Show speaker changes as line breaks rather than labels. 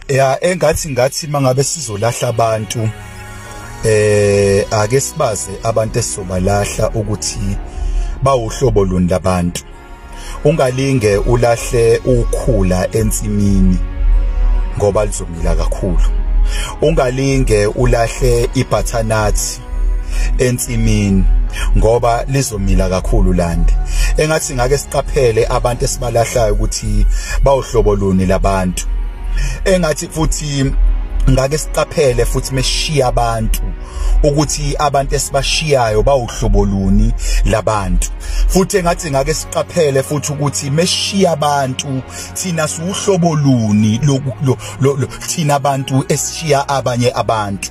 ya engathi ngathi mangabe sizolahla abantu eh ake sibaze abantu esizobalahla ukuthi bawuhlobo luni labantu ungalinge ulahle ukhula ensimini ngoba lizomila kakhulu ungalinge ulahle ibhathanathi ensimini ngoba lizomila kakhulu landi engathi ngake siqaphele abantu esibalahlayo ukuthi bawuhlobo luni labantu engathi futhi ngake siqaphele futhi meshiya abantu ukuthi abantu esibashiyayo bawuhlobo luni labantu futhi engathi ngake siqaphele futhi ukuthi meshiya abantu thina siwuhlobo luni thina abantu esishiya abanye abantu